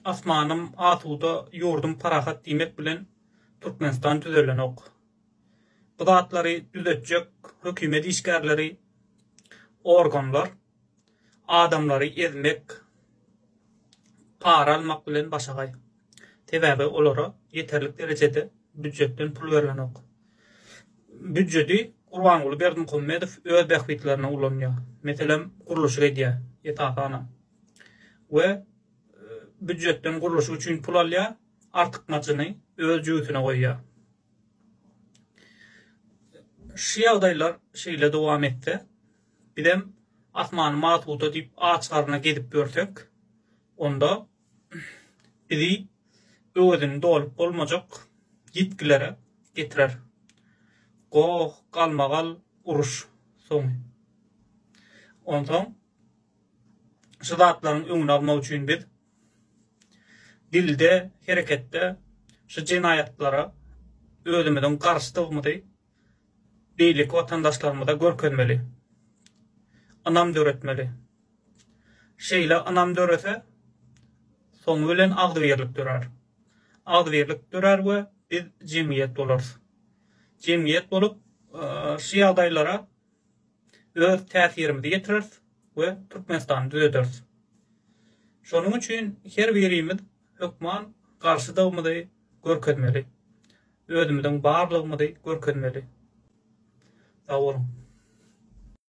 Asmanym asuda, ýurdum parahat diýmek bilen Türkmenistan düzelenok. Bu zatlary düzetjek hökümet işgärleri, organlar adamlary ezmek, para almak bilen başagaý. Sebäbi olara ýeterlik derejede býujetden pul berilenok. Býujedi Gurbanguly Berdimuhamedow öz bähbitlerine ulanýar. Meselem, gurluşyk edýär, esasanam. We býujetden gurluşyk üçin pul alýar, artykmajyny öz jübüsine goýýar. Şu ýagdaýlar şeýle dowam etse, bizem Asmany Masuda diýip aç garna gezip ýörsek, onda bizi öwezini dolup bolmajak ýitgilere getirer. Goh, galmagal uruş soňy. Onsoň şu zatlaryň öňüni almak üçin biz dilde, hereketde şu jenaýatlara özümiziň garşydygymyzy beýleki watandaşlarymyza görkezmeli, ynam döretmeli. Şeýle ynam dörese, soňy bilen agzybirlik dörär. Agzybirlik dörär we biz jemgyýet bolarys. Jemgyýet bolup, şu ýagdaýlara öz täsirimizi ýetireris we Türkmenistany düzederis. Şonuň üçin her birimiz hökman garşydygymyzy görkezmeli, özümiziň barlygymyzy görkezmeli. Sag boluň!